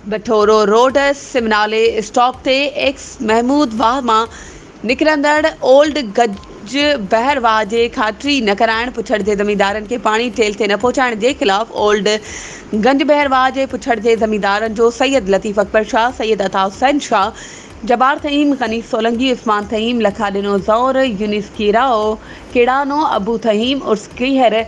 Bathoro road سم نالي stop تي ايڪس محمود واهه مان نڪرندڙ اولڊ گج بحر واهه جي کاٽري نه ڪرائڻ، پڇڙ جي زميندارن کي پاڻي ٺيلهه تي نه پهچائڻ جي خلاف اولڊ گنج بحر واهه جي پڇڙ جي زميندارن جو سيد لطيف اڪبر شاهه، سيد عطا حسين شاهه، جبار ٿهيم، غني سولنگي، عثمان ٿهيم، لکا ڏنو زئور، يونس ڪيراء، ڪيڙانو، ابو ٿهيم عرس ڪيهر،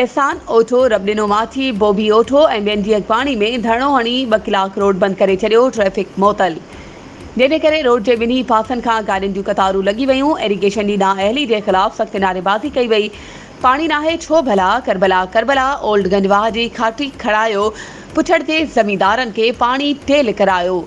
احسان اوٺو، رب ڏنو ماٿي، بوبي اوٺو ۽ ٻين جي اڳواڻي ۾ ڌرڻو هڻي ٻه ڪلاڪ روڊ بند ڪري ڇڏيو، ٽريفڪ معطل. جنهن جي ڪري روڊ جي ٻنهي پاسن کان گاڏين جون قطارون لڳي ويون، ايريگيشن جي نااهلي جي خلاف سخت نعريبازي ڪئي وئي، پاڻي ناهي ڇو ڀلا، ڪربلا ڪربلا، اولڊ گنج واهه جي کاٽي کڙايو، پڇڙ جي زميندارن کي پاڻي ٽيل ڪرايو،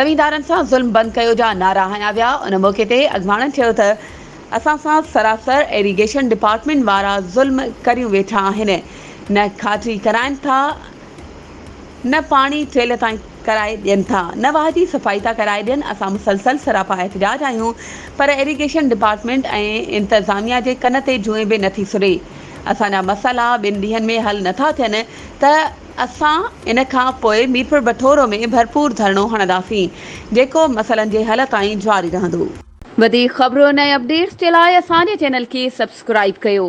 زميندارن سان ظلم بند ڪيو جا نعرا هنيا ويا، ان موقعي تي اڳواڻن چيو ته. اسان سان سراسر ايريگيشن ڊپارٽمينٽ وارا ظلم ڪريون ويٺا آهن نه کاٽي ڪرائن ٿا نه پاڻي ٽيل تائين ڪرائي ڏين ٿا نه واهجي صفائي ٿا ڪرائي ڏين اسان مسلسل سراپا احتجاج آهيون پر ايريگيشن ڊپارٽمينٽ ۽ انتظاميا جي ڪن تي جوئين به نٿي سري اسان جا مسئلا ٻن ڏينهن ۾ حل نٿا ٿين ته اسان ان کان پوء ميرپوربٺورو ۾ ڀرپور ڌرڻو هڻنداسين جيڪو مسئلن جي حل تائين جاري رهندو. وڌيڪ خبرن ۽ اپڊيٽس جي لاء اسان جي چينل کي سبسڪرائيب ڪيو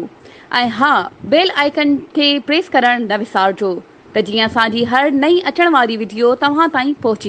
۽ ها بيل آئيڪن کي پريس ڪرڻ نه وسارجو ته جيئن اسان جي هر نئين اچڻ واري وڊيو توهان تائين پهچي.